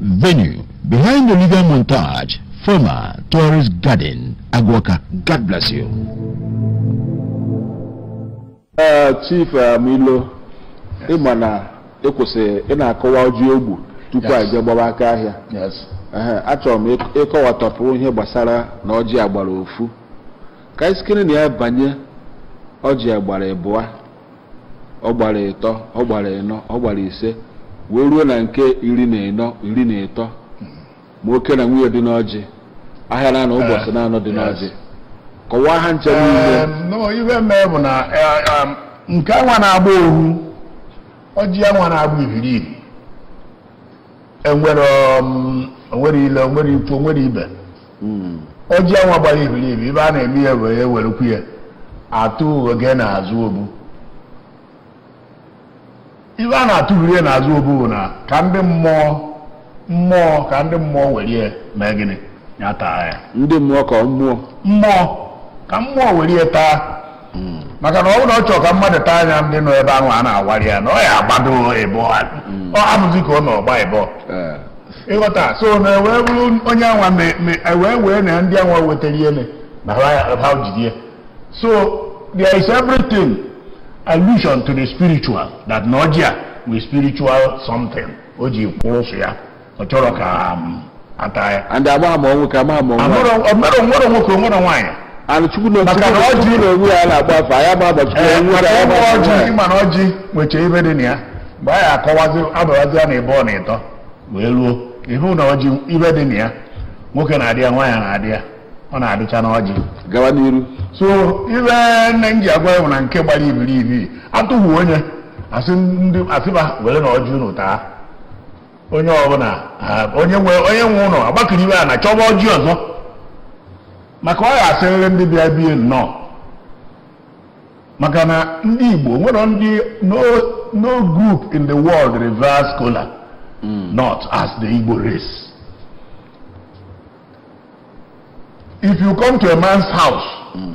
Venue behind Olivia Montage, former Tourist Garden, Agu Awka. God bless you. Ee, Chief eh, Milo ị ma na ịkwụsị ị na-akọwa ọjị ogbu tupu anyị jee gbaba aka ahịa Yes. Ehe, achọrọ m ịk- ịkọwatọpụ ihe gbasara na ọjị agbara ofu ka anyị sikere na ya banye ọjị agbara ịbụa ọ gbara ịtọ ọ gbara ịnọ ọ gbara ise wee ruo na nke iri na ịnọ iri na ịtọ ma oke na nwunye dị n'ọjị ahịa na-anọ ụbọchị eh, na-anọ dị n'ọjị kọwaa ha ncha niile ihe mee bụ na eh, nke anwa na-agba ohu ọjị anwa na-agba ibiribi enwere um, o nwere ile o nwere ikwu o nwere ibe hmm. ọjị anwa gbara ibiribi ive a na-eme ya were ewerekwu ya atụ oge n'azụ obu ive a na-atụvuru ya n'azụ obu bụ na ka ndị mmụọ mmụọ ka ndị mmụọ were ya mee gịnị ya taa ya ndị mmụọ ka mmụọ mmụọ ka mmụọ were ya taa hmm. maka na ọ bụrụ na ọ chọrọ ka mmadụ taa nya ndị nọ ebe ahụ a na-awari ya na ọ ya agbado ibe hmm. ọ abụzi ka ọ nọ ọ gba ibe eh. ị ghọta so na e wee bụrụ onye anwa e wee wee na ndị anwa wetara ihe na ha jidie so there is everything allusion to the spiritual that na ọjị a wụ spiritual something o ji kwụrụ sọ ya ọ chọrọ ka um, ata ya and amaghị m ọnwụ ka amaghị m ọnwụ Amụrụ- ọ mụrụ nwere nwoke nwere nwaanyị anụ chukwu na Maka na ọjị- ọjị na onwe ya na-agba afọ anyị ama agbachi Ee, onwe maka ya ịgba ama ọjị ọjị ị ma na ọjị nwecha ibe dị na ya mgbe anyị akọwazi abawazi ya na ịbụọ na ịtọ wee luo ị hụ na ọjị ibe dị na ya nwoke na-adị ya nwaanyị na-adị ya ọ na-adịcha na ọjị gawa n'iru so ive nne m ji agwa ya bụ na nke gbara ibiribi atụghị onye asị ndị asịba were na ọjị unu taa onye ọbụla onye nwe onye nwe ụlọ agbakiriwe a na chọba ọjị ọzọ maka ọ ya asịrịrị ndị bịa be ya nnọọ maka na ndị Igbo nwere ndị no group in the world reveres kola hmm. not as the Igbo race if you come to a man's house hmm.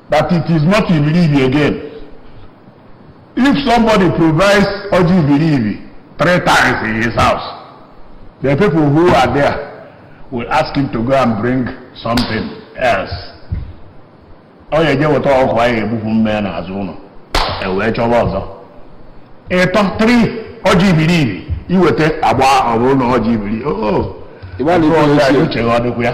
that it is not ibiribi again if somebody provides ọjị ibiribi three times in his house the people who are there will ask him to go and bring something else ọ ya eje weta ọkụkọ anyị egbupụ mmee n'azụ ụlọ e wee chọba ọzọ ịtọ three ọjị ibiribi i weta agba ọ bụrụ na ọjị ibiribi o o Igbalị ịtụ ọzọ ikwu ya eziokwu. uche gị ọ dịkwa ya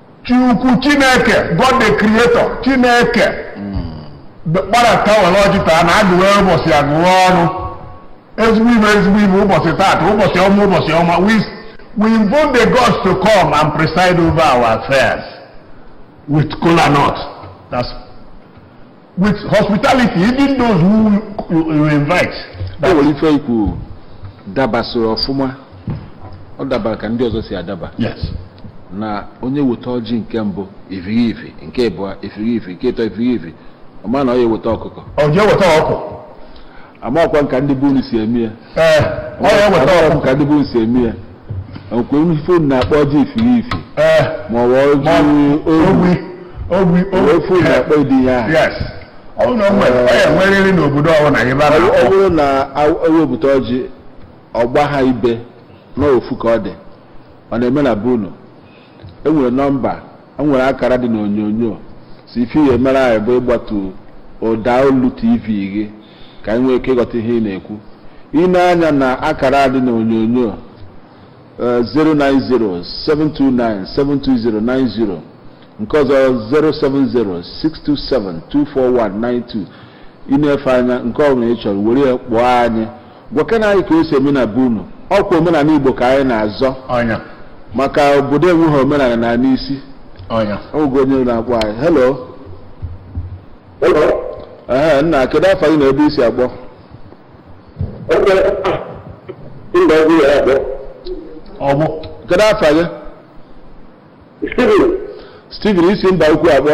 Chukwu Chineke God the Creator Chineke kparata were ọjị taa na agụwe ụbọchị agụwe ọrụ ezigbo ife ezigbo ife ụbọchị taata ụbọchị ọma ụbọchị ọma we we invoke the gods to come and preside over our affairs with kola nut that's with hospitality even those who you invite. o nwere ife i kwu dabasoro ọfụma ọ dabara ka ndị ọzọ si adaba yes. na onye weta ọjị nke mbụ ifiri ifi nke abụọ ifiri ifi nke ịtọ ifiri ifi ọ ma na ọ ya eweta ọkụkọ ọ jee weta ọkụ amakwa m ka ndị be unu si eme ya ee ọ ya eweta Amakwa ọkụ m ka ndị be unu si eme ya ọkwa unu ife unu na-akpọ ọjị ifiri ifi ee ma ọ bụ ọjị ogbi ogbi ogbi wee fụ unu akpọ ụdị ya ahụ yes ọ bụrụ na o nwere ọ ya enwerịrị n'obodo ọbụla ihe bara ọ ọ bụrụ na a- ewepụta ọjị ọ gbaha ibe n'ofu ka ọ dị ọ na-eme na be unu enwere nọmba e nwere akara dị n'onyonyo sọ ife ị ya emere anyị bụ ịgbatu ụda olu tv gị ka anyị nwee ike ịghọta ihe ị na-ekwu i nee anya na akara dị n'onyonyo 09072972090 eh, nke ọzọ 07062724192 i nefee anya nke ọ bụla ị chọrọ were ya kpọọ anyị gwakene anyị ka o si eme na be unu ọkwa omenala igbo ka anyị na-azọ ọ ya maka obodo enweghị omenala naa n'isi ọ ya o nwego onye na-akpọ anyị hello ee nna kedu afa gị na ebe i si akpọ oku kedu afa gị Steven i si Mbaukwu akpọ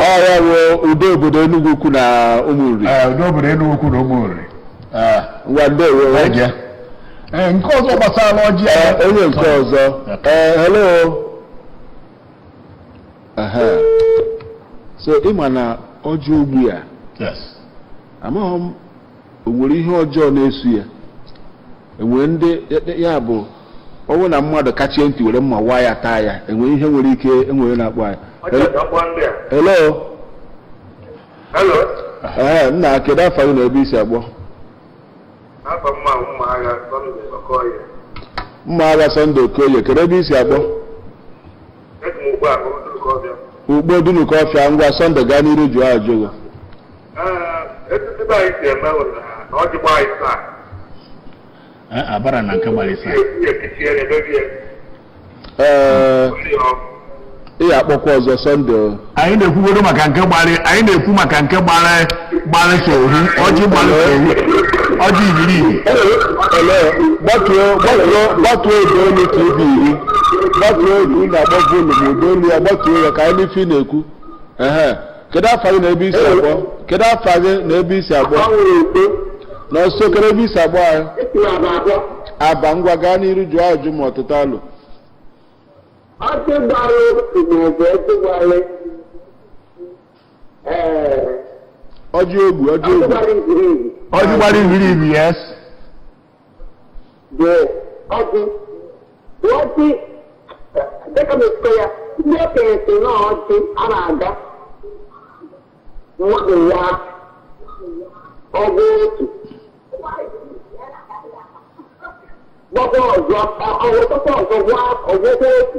ọ ya bụ udo obodo Enugwu Ukwu na Ụmụnri udo obodo Enugwu Ukwu na Ụmụnri ngwa ndewo nke ọzọ gbasara ọjị onye nke ọzọ hello so ị ma na ọjị ogbi a amaghị m o nwere ihe ọjọọ na-eso ya enwere ndị ya bụ ọ bụrụ na mmadụ kachie ntị were mma waa ya taa ya enwere ihe nwere ike enwere na-akpọ anyị hello ee nna kedu afa gị na ebe i si akpọ mma agha Sunday Okoye kedu ebe i si akpọ Ukpo Dunukọfịa ngwa Sunday gaa n'iru jụọ ajụjụ gị abara na nke gbara isaa ị akpọkwa ọzọ sọnde anyị na-ekwugodo maka nke gbara anyị na-ekwu maka nke gbara gbara sọ ohu ọjị gbara sọ ohu ọjị ibiri ibi gbatuo gbatuo gbatuo ụda olu tv gị gbatuo olu na-agba volum ụda olu ya gbatuo ya ka anyị nụ ife ị na-ekwu ehe kedu afa gị na ebe i si akpọ kedu afa gị na ebe i si akpọ nọnso kedu ebe i si akpọ anyị aba ngwa gaa n'iru jụọ ajụ ma ọ tụta alo ọjị ogbu ọjị ogbu ọjị gbara ibiri ibi yes dị ọjị dị ọjị dịka m esikọ ya ndị okenye si na ọjị a na-aga mmadụ ya ọgụ otu gbakwa ọzọ ọgwụtakwa ọzọ gwa ọgwụkwa otu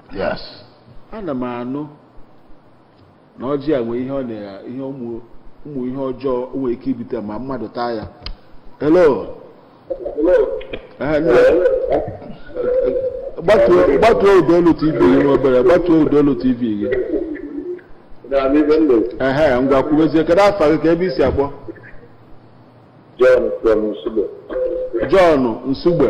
yes ana m anụ na ọjị a nwee ihe ọ na ihe ụmụ ụmụ ihe ọjọọ o nwere ike ibute ma mmadụ taa ya hello Eh, nna- eh, gbatuo gbatuo ụda olu tv gị nwa obere gbatuo ụda olu tv gị na-anụ ife m na-ekwu ehe ngwa kwubezie kedu afa gị ka ebe i si akpọ John from Nsugbe jọn nsugbe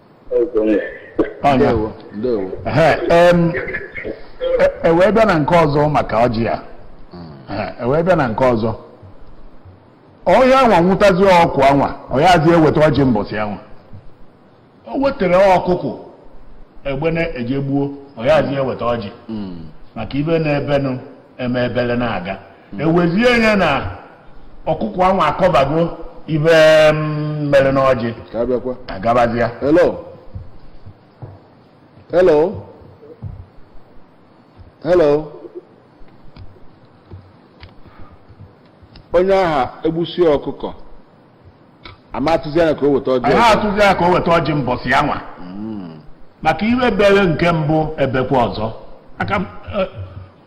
e wee bịa na nke ọzọ maka ọjị a e wee bịa na nke ọzọ onye anwa nwụtazi ọkụ anwa ọ yazi eweta ọjị mbọsị anwa o wetara ọkụkụ egbene e je gbuo ọ yazi eweta ọjị hmm. maka ife na-emenụ eme ebele na-aga e wezie ya na ọkụkọ ahụ akọbago ife mm, mere n'ọjị ka abịakwa agabazịa hello hello hello onye aha egbusi ọkụkọ a ma atụzi anya ka o weta ọjị anyị ọzọ. atụzi ya ka o weta ọjị mbọsị anwa maka ife mere nke mbụ emekwa ọzọ aka m, eh,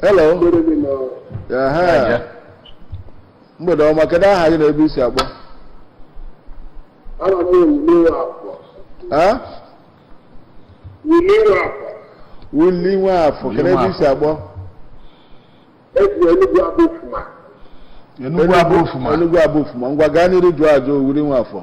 hello Ehe. mgbede ọma kedu aha gị na ebe i si akpọ Aha m Willy Nwafọ. Eh? Willy Nwafọ. Willy Nwafọ kedu ebe i si akpọ Esi Enugu Abọ Ufuma. Enugu Abọ Ufuma. Enugu Abọ Ufuma ngwa gaa n'iru jụọ ajụ Willy Nwafọ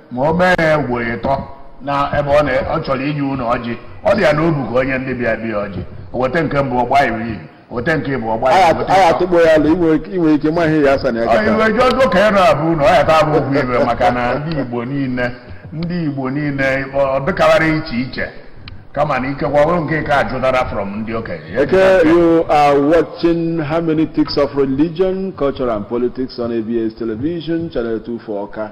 ma o mee ya ugboro ịtọ na ebe ọ chọrọ inye unu ọjị ọ dị ya n'obu ka o nye ndị bịa abịa ọjị weta nke mbụ ọgba iri iri weta nke bụ ọgba iri agha atụgbo ya ala inwe ike ma ihe ya asa na ya gata i we ọjị ọzọ ka ịnọ abụ na ọ ya ta abụ okwu ibe maka na ndị igbo niile ndị igbo niile ọ dịkawara iche iche kama na ikekwa ọrụ nke ka ajụtara from ndị okenye okay you are watching hermeneutics of religion culture and politics on abs television channel 24 awka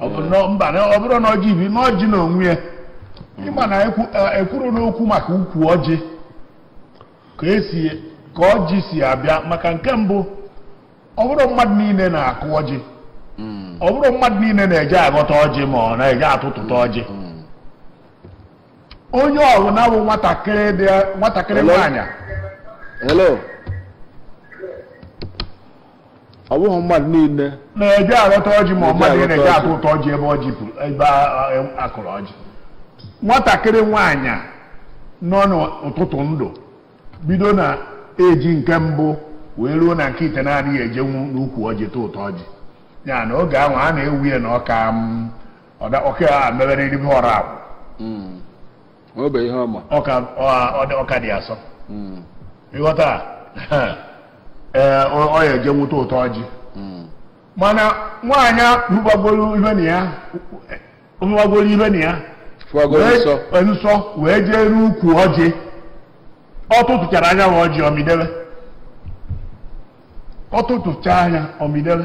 ọ bụ na mba na ọ bụrụ na ọjị bi na ọjị na onwe ya ịma na ekwu- eh, ekwuru n'okwu maka ukwu ọjị ka esi ka ọjị si abịa maka nke mbụ ọ bụrọ mmadụ niile na-akụ ọjị ọ bụrọ mmadụ niile na-eje aghọta ọjị ma ọ na-eje atụtụta ọjị onye ọbụla bụ nwatakịrị nwaanyị hello ọ bụghị mmadụ niile na-eje aghọta ọjị ma mmadụ niile na-eje atụtụ ọjị ebe ọjị ebe akụrụ ọjị nwatakịrị nwaanyị nọ n'ụtụtụ ndụ bido na age nke mbụ wee ruo na nke itenaanị ya ejenwu n'ukwu ọjị tụtụọ ọjị ya na oge ahụ a na-ewe ya na ọ ka ọ ka emeberọ ihe ọrụ akwụ obe ihe ọma ọ ka ọ- ọ dị- ọ ka dị asọ ị ghọta ee ọ- ọ ya-ejenwu tụtụọ ọjị mana nwaanyị a hụbagoro ihe na ya hụbagoro ihe na ya fụagoro wee- nsọ wee nsọ wee jee n'ukwu ọjị ọ tụtụchara nya bụ ọjị ọ mịdebe ọ tụtụchaa nya ọ mịdebe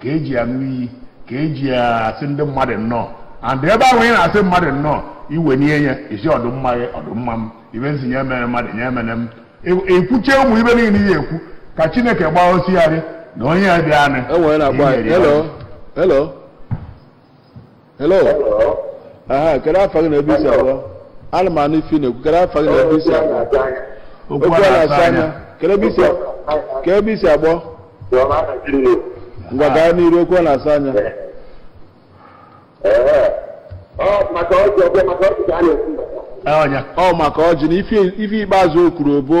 ka eji aṅụ iyi ka eji asị ndị mmadụ nnọọ and ebe ahụ ị na-asị mmadụ nnọọ i wenie ya i sị ọdịmma gị ọdịmma m ive m sị nya mere mmadụ nya mere m i kwuchaa ụmụ ive niile ị ya-ekwu ka chineke gbaa osịarị na onye a bịanị e hello aha kedu afa gị na ebe i si akpọ ana m anụ ife ị na-ekwu kedu afa gị na ebe i si akpọ okwu a na-asa anya kedu ebe i si kedu ebe i si akpọ ngwa gaa n'iru okwu a na-asa anya ọnya ọ maka ọjị na ife ife ikpeazụ o kwuru ọ bụ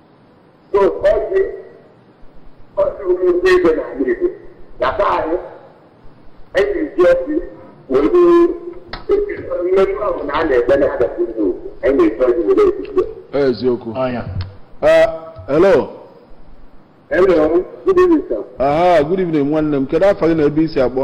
eziokwu hello hello good evening sir aha good evening nwanne m kedu afa gị na ebe i si akpọ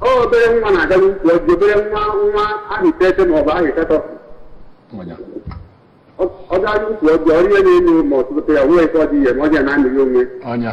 obere nwa na-aga n'ukwu ọjị obere nwa nwa ahọ iteghete ma ọ bụ ahọ ịsatọ Nwanya. ọ gaa n'ukwu ọjị ọrụ ihe n'elu ma ọ tụtụ ya wee ike ọjị ihe ma ọjị ya na-amịghị onwe ya.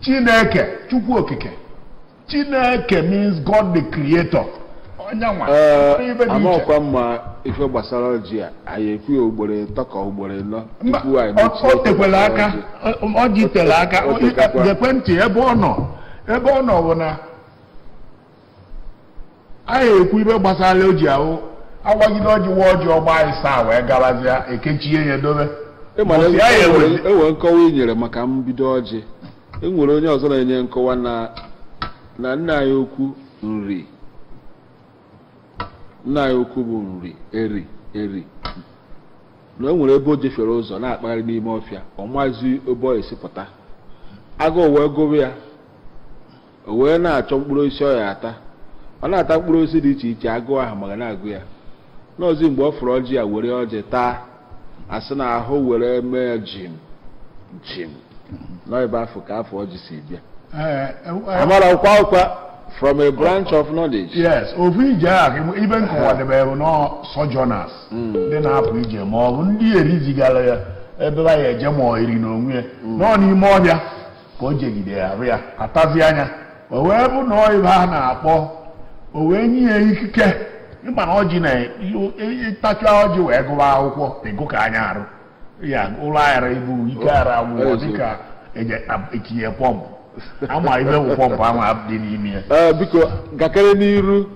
Chineke Chukwu Okike Chineke means God the Creator ọ nyanwa amakwa mma ife gbasara ọjị a anyị ekwu ya ugboro ịtọ ka ugboro ịnọ tupu anyị mechie o tekwere aka ọjị tere aka gekwa ntị ebe ọ nọ ebe ọ nọ bụ na anyị ekwu ibe gbasara ọjị ahụ a wagide ọjị waa ọjị ọ gbaa ịsaa wee gabazịa ekechie ya dobe ịmara Ụbọchị anyị enwere ewere. enwere nkọwa i nyere maka mbido ọjị enwere onye ọzọ na-enye nkọwa na na nna anyị ukwu Nri nna anyị ukwu bụ Nri Eri Eri na o nwere ebe o jefiere ụzọ na-akpagharị n'ime ọfịa ọ mazị ebe ọ esi pụta agụụ wee gụba ya o wee na-achọ mkpụrụ osisi ọ ya-ata ọ na-ata mkpụrụ osisi dị iche iche agụụ ahụ ma ga na-agụ ya na ọ zị mgbe ọ fụrụ ọjị ya were ọjị taa a sị na ahụ were mee ya jim jim na ọ ibe afụ ka afa ọjị si bịa Ee, e- e- amara ọkwa ọkwa from a branch of knowledge yes ofu ije a ka ị- ibe m kọwadebe bụ na sojourners ndị na-apụ ije ma ọ bụ ndị Eri zigara ya ebe ha ya-eje ma ọ Eri n'onwe ya nọ n'ime ọfịa ka o jegide ya arụ ya atazi anya o wee bụ na ọ ibe a na-akpọ o wee nye ya ikike ịma na ọjị na ị tachaa ọjị wee gụwa akwụkwọ ịgụ ka anya arụ ya ụlọ aghara ibu ike ara agwụgwọ dịka etinye pọmpụ ama ibe bụ pọmpụ ama dị n'ime ya ee biko gakere n'iru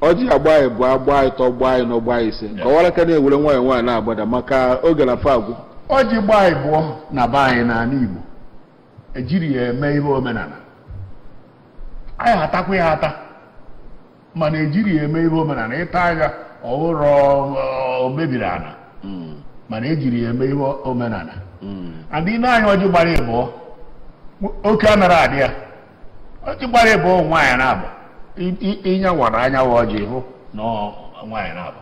ọjị agbaa ịbụa gbaa ịtọ gbaa ịnọ gbaa ise kọwara ka na-ewere nwayọọ nwayọọ na-agbada maka oge na fa agwụ ọjị gbaa ịbụọ na be anyị n'ala Igbo ejiri ya eme ihe omenala a ya-atakwa ya ata mana ejiri ya eme ihe omenala ị taa ya ọ bụrọ o mebiri ala hmm. mana ejiri ya eme ihe omenala hmm. and ị nee anya ọjị gbara ịbụọ oke anara adị ya ọjị gbara ịbụọ nwaanyị naabọ ị nyawara anyawa ọjị hụ na nwaanyị naabọ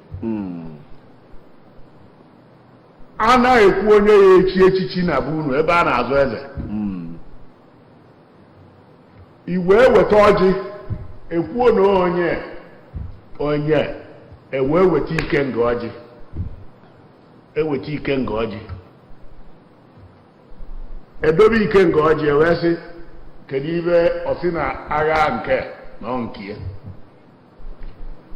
hmm. a na-ekwu onye ya-echi echichi na be unu ebe a na-azọ eze hmm. i wee weta ọjị ekwuo na onye onye e wee weta ikenga ọjị e weta ikenga ọjị e dobe ikenga ọjị e wee sị kedu ibe o si na-aga nke na nke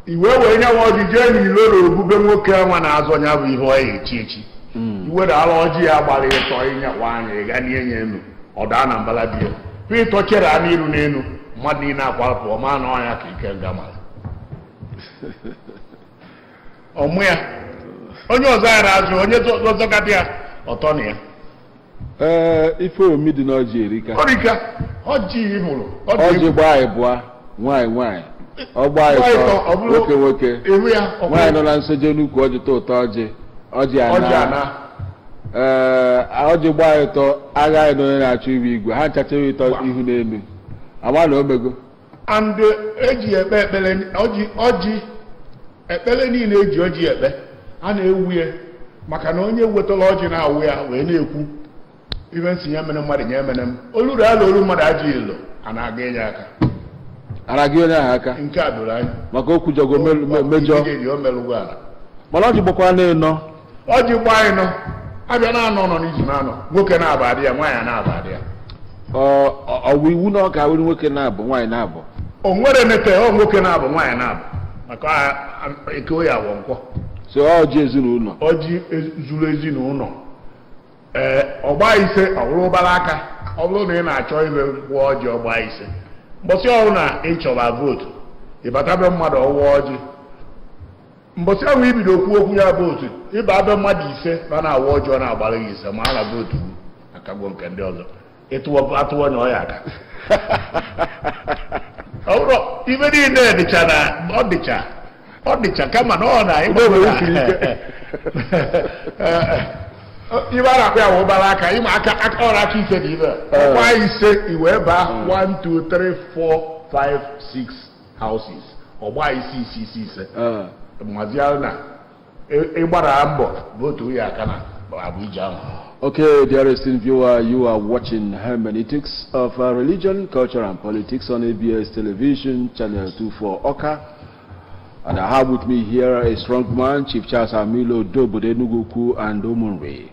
i wewe nya nwa ọjị jee n'ilo na obube nwoke nwa na-azọ ya bụ ihe ọ ya echi echi hmm. i were ala ọjị ya gbara ịtọ ị nyawaa nya ị ghanie nya enu ọ daa na mbala di ya pụ ịtọ chere a n'iru n'elu mmadụ niile akwapụ ọ ma na ọ nya ka ikenga mara ọmụ ya onye ọzọ ya na-azọ onye ọzọ gadị ya ọtọ na ya ee ife omi dị n'ọjị erika erika ọjị ị mụrụ ọjị gbaa ịbụa nwaanyị nwaanyị ọ gbaa ịtọ, ọ tọ bụrụ- nwoke nwoke ewu ya ọ nwaanyị nọ bụrụ na nsọ jee n'ukwu ọjị tụtụ ọjị ọjị ọjị ana ana ee ọjị gbaa ịtọ agha anyị na onye na-achọ ịwụ igwe ha ncha chee ibe ịtọ ihu n'elu a ma na o mego and eji eh, e ekpe ekpere ọjị ọjị ekpere niile eji ọjị ekpe a na-ewu ya maka na onye wetara ọjị na-awa ya wee na-ekwu ife m sị ya mere mmadụ ya mere m oluru ala olu mmadụ ajọ ilo a na-aga enye aka araghị onye ahụ aka nke a doro anya maka okwu jogo mejọ mana ọjị gbakwara n'ịnọ ọjị gbaa ịnọ afịa naanọ nọ n'izu naanọ nwoke naabọ adị ya nwaanyị naabọ adị ya ọ wụ iwu na ọ ga-awụrụ nwoke naabọ nwaanyị naabọ o nwere nete ọ nwoke naabọ nwaanyị naabọ maka eke oye awọ nkwọ so ọjị ezinụlọ ọjị e, zuru ezinụlọ ee ọ gbaa ise ọ wụrụ ụbara aka ọ bụrụ na ị na-achọ ihe gọọ ọjị ọ gbaa ise mbọsị ọ wụrụ na ị chọba vootu ị bata be mmadụ ọ waa ọjị mbọchị ahụ ibido okwu okwu ya vootu ị baa be mmadụ ise na na-awa ọjị ọ na-agbara gị ise ma a na vootu gị akago nke ndị ọzọ atụwa onye ọ ya aka ọ bụrụ ife niile dịcha na ọ dịcha ọ dịcha kama na ọ na ife a na-akpọ ya wụ ụbara aka ịma aka ọrụ aka ise na ibe ọgba ise i wee baa 1 2 3 4 5 6 houses ọ gbaa ise ise ise ise eh. mazie na ị gbara e mbọ votu ya aka na Abuja ahụ Okay, dear esteemed viewer, you are watching Hermeneutics of uh, Religion, Culture and Politics on ABS Television, Channel 24 Awka. And I have with me here a strong man, Chief Charles Amilo Udobodo Enugwu-Ukwu and Ụmụnri.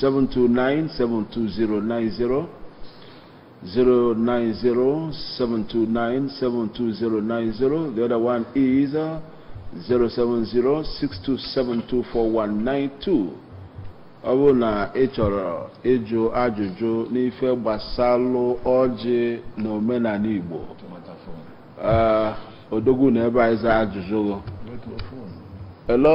09072972090 09072972090 the other one is uh, 07062724192 ọ bụrụ na ị chọrọ ịjụ ajụjụ n'ife gbasalụ ọjị na omenala Igbo ee odogwu nọ ebe a ịza ajụjụ gị hello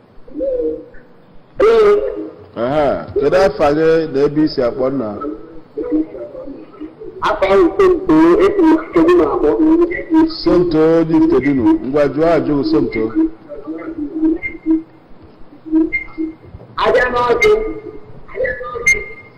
kedu afa gị na ebe i si akpọ nna somto dị ifitedunu ngwa jụọ ajụjụ gị somto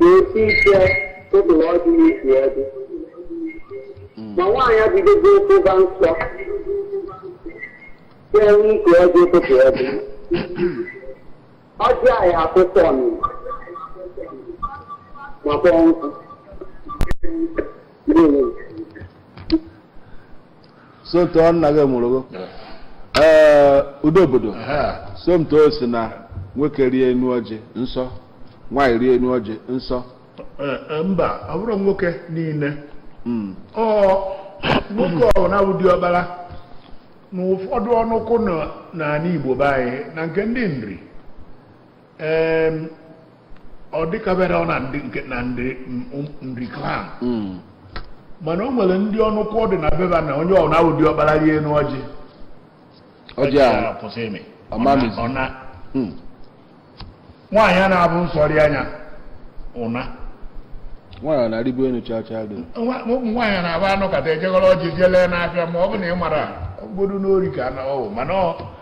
na-esi ike ụtụ na ọdị n'isi ọdị ma nwaanyị adịgogo ụba nsọ ga-enwe ike ọdị ụtụtụ ọdị ọjị anyị akwụkwọ ọnụ ma kpọọ nkụ Ndewo. somto nna gị mụrụgo ee udo obodo somto sị na nwoke rịa enu ọjị nsọ nwaanyị rịa enu ọjị nsọ mba ọ bụrọ nwoke niine hmm. ọ nwoke ọ na-abụ diọkpala na ụfọdụ ọnụkụ n'ani Igbo be anyị na nke ndị nri ọ dịkabere ọ na ndị nke na ndị nri clan hmm. mana o nwere ndị ọnụkụ dị na be fa na onye ọ na-awụ diọkpala rịa enu ọjị ọjị akwụsị ịmị ọ na hmm. nwaanyị a na-abụ nsọrị anya ụna nwaanyị na-arịbu enu chaa chaa dị ụmụ nwaanyị na-abụ a nọkata e jee gọrọ ọjị jee lee n'afịa ma ọ bụ na ị mara obodo n'ori ka na ọwụ mana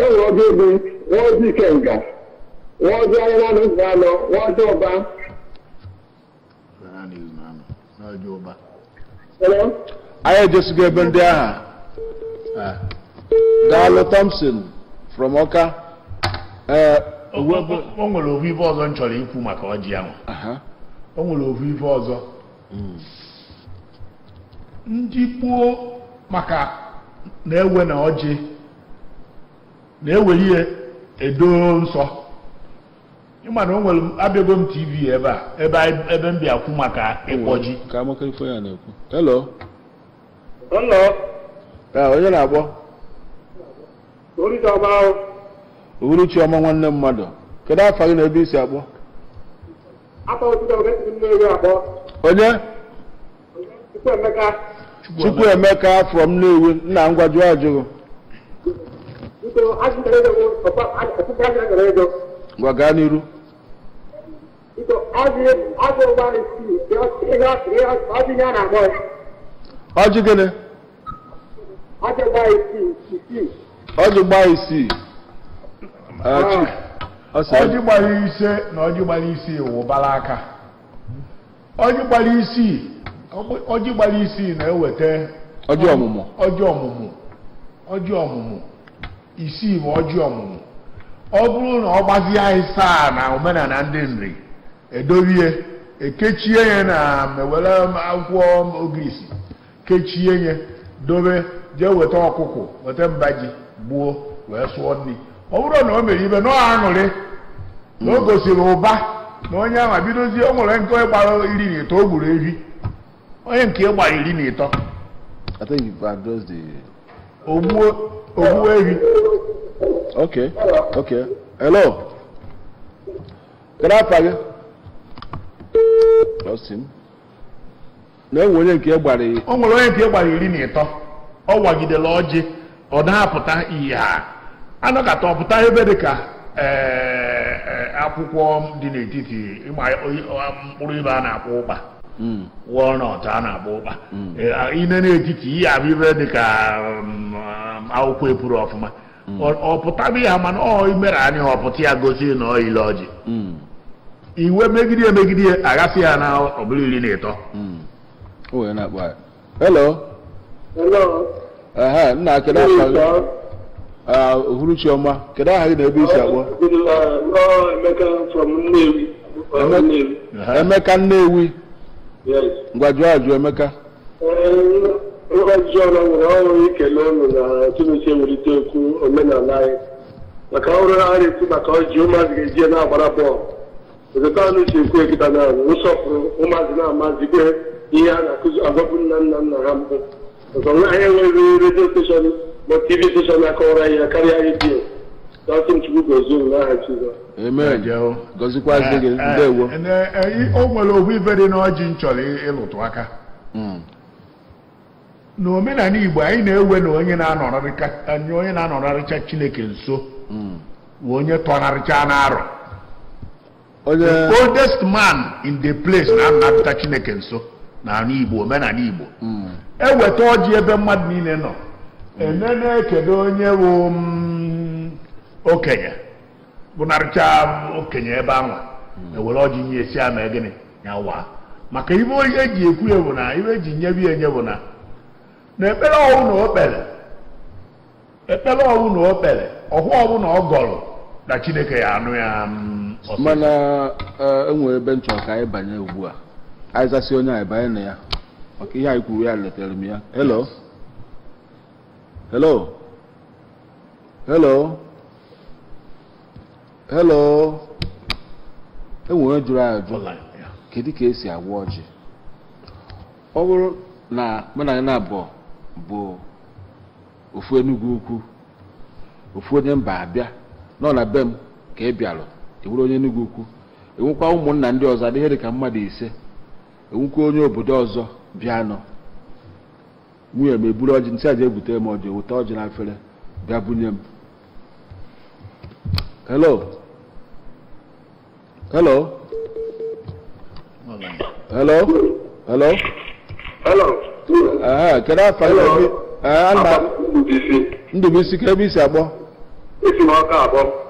enwere ọbịa ebe nwee ọjị ikenga nwee ọjị afịa naanọ ụzọ anọ nwee ọjị ụba Hello? anyị ejesigo ebe ndị ahụ Ah. daalụ thompson from ọka ee o nwere ofu ife ọzọ m chọrọ ikwu maka ọjị ahụ aha o nwere ofu ife ọzọ ndị gboo maka na-ewe na ọjị na-ewere ihe edo nsọ ị ma na o nwere abịago m tv ebe a ebe anyị- ebe m bịa kwu maka ịkpọ ji ka amaka ife ya na-ekwu hello Hello, ee onye na-akpọ Orita Bao, uhuruchi ọma nwanne mmadụ kedu afa gị na ebe i si akpọ Afa Otita Oge si Nnewi akpọ, onye Chukwuemeka from Nnewi nna ngwa jụọ ajụjụ gị ngwa gaa n'iru ọjị gịnị ọjị gbaa isii Ah, chi- ọ sị ọjị gbara ise na ọjị gbara isii wụbara aka ọjị gbara isii ọjị gbara isii na-eweta ọjị ọmụmụ ọjị ọmụmụ ọjị ọmụmụ isii bụ ọjị ọmụmụ ọ bụrụ na ọ gbazie asaa na omenala ndị nri edobe ekechie ya na mewere akwụkwọ ogirisi kechie ya dobe jee weta ọkụkụ weta mba ji gbuo wee sụọ nri ọ bụrụ na o mere ibe na ọ aṅụrị na o gosiri ụba na onye ahụ bidozie o nwere nke gbara iri na ịtọ o gburu ehi onye nke gbara iri na ịtọ I think you've addressed the. ogbuo ogbuo ehi Okay, okay. Hello. Can I ask you? Lost him. na o nwere onye nke gbara iri o nwere onye nke gbara iri na ịtọ ọ wagidela ọjị ọ na-apụta ihe a anọkata ọ pụta ife dị ka eh, eh, akwụkwọ dị n'etiti ịma mkpụrụ ife a na-akpọ ụkpa hmm. walnut a na-akpọ ụkpa hmm. eh, i nee n'etiti ị ya-ahụ ife dị ka mm, akwụkwọ epuru ọfụma hmm. ọ pụtaba ya mana ọ imere anyị ọ pụta ya gosi na ọ ile ọjị hmm. i wee megide emegide aghasị ya na ọ bụrụ iri na ịtọ hello nna kedu afa gị ah, uhuruchi ọma kedu aha gị na ebe i si akpọ emeka nnewi ngwa jụọ ajụ emeka Ngọzi ọrụ nwere ọrụ ikele ụnụ na Chineke ewulite okwu omenala anyị maka ọrụ a na-eti maka ọjị ụmụazị ga-eji ya na-agbara bọọlụ etu ụnụ si ekwu kịta na nsọpụrụ ụmụazị na-amazikwe ihe a na-akụzi agwabụ nna nna nna ha mbụ ọzọ na anyị enweghị redio steshọn ma tv steshọn na-akọwara ya karịa redio na ọtụ chukwu gozie ụnụ n'aha Jizọs Amen. Jee o. Gozikwazi gị. Eh, eh, Ndewo. eh, eh, i- o nwere ofu ife dị n'ọjị m chọrọ ị- ịlụtụ aka Mm. n'omenala igbo anyị na-ewe na onye na-anọrarịka anyị onye na-anọrarịcha chineke nso Mm. wụ onye tọnarịcha n'arọ the oldest man in the place na-anọrarịcha chineke nso na ala igbo omenala igbo Mm. eweta ọjị ebe mmadụ niile nọ enene kedu onye wụ mm, okenye bụnarịcha okenye ebe anwa ewere ọjị nye ya sị ya mee gịnị ya waa maka ife eji ekwu ya bụ na ife eji nyebe ya enye bụ na na ekpere ọbụna o kpere ekpere ọbụna o kpere ọfọ ọbụna ọ gọrọ na chineke ya-anụ ya mm, ọsịsọ. mana eh, enwere ebe m chọ ka anyị banye ugbu a anyị zasịa onye a anyị banye na ya maka ihe anyị kwuru ya lotara m ya hello hello hello hello enwere jụrụ ajụ kedu ka esi agọ ọjị ọ bụrụ na mụ na na abụọ bụ ofu enugwu ukwu ofu onye mba abịa nọ na be m ka ị bịalụ enwere onye enugwu ukwu enwekwa ụmụnna ndị ọzọ dị ihe dị ka mmadụ ise enwekwa onye obodo ọzọ bịa nọ nwunye m eburu ọjị nsị aja ebute m ọjị wụta ọjị na efere bịa bunye m hello hello hello hello hello ee kedu afa gị ee ana ndụbụisi kee ebe i si akpọ esi m ọka akpọ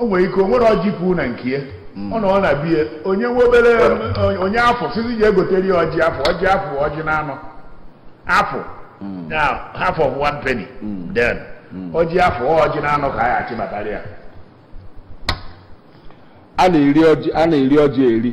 o nwere ike o nwere ọjị puu na nke ya mm. ọ nọọ na be ya onye nwe obere onye afụ sizi ji egotere ya ọjị afụ ọjị afụ ọjị na anọ afụ mm. na half of one penny mm. then ọjị afụ ọjị na anọ ka a ya achịbatara ya a na-eri ọjị eri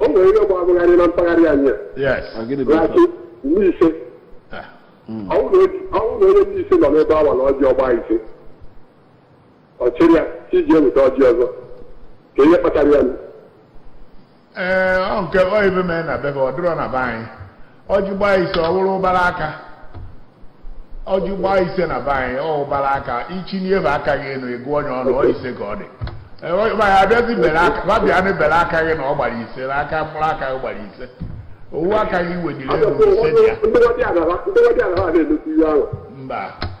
o nwere ihe bụ abụgharị na mpaghara anyị yes Ah, gịnị bụ na-asị ife? ndị ise Ah, ọ bụrụ na ọ bụrụ na onye ndị ise nọ n'ebe awa na ọjị ọ gbaa ise ọ chịrị ya ka e je weta ọjị ọzọ kee ihe kpatara ya nụ. ee ọ nke ibe mee na be ibe ọ dịrọ na be anyị ọjị gbaa ise ọ bụrụ ụbara aka ọjị gbaa ise na be anyị ọ ụbara aka i chinie aka gị enu ị gụọ ya ọnụ ọ ise ka ọ dị Ee, ọ- ma ya abịazi bere aka ma bịa na bere aka gị na ọ gbara ise na aka mkpụrụ aka gị gbara ise ọ wụ aka gị wediri elu ise dị ya ndị ọdịnala ha ndị ọdịnala ha na-emesi ihe ahụ mba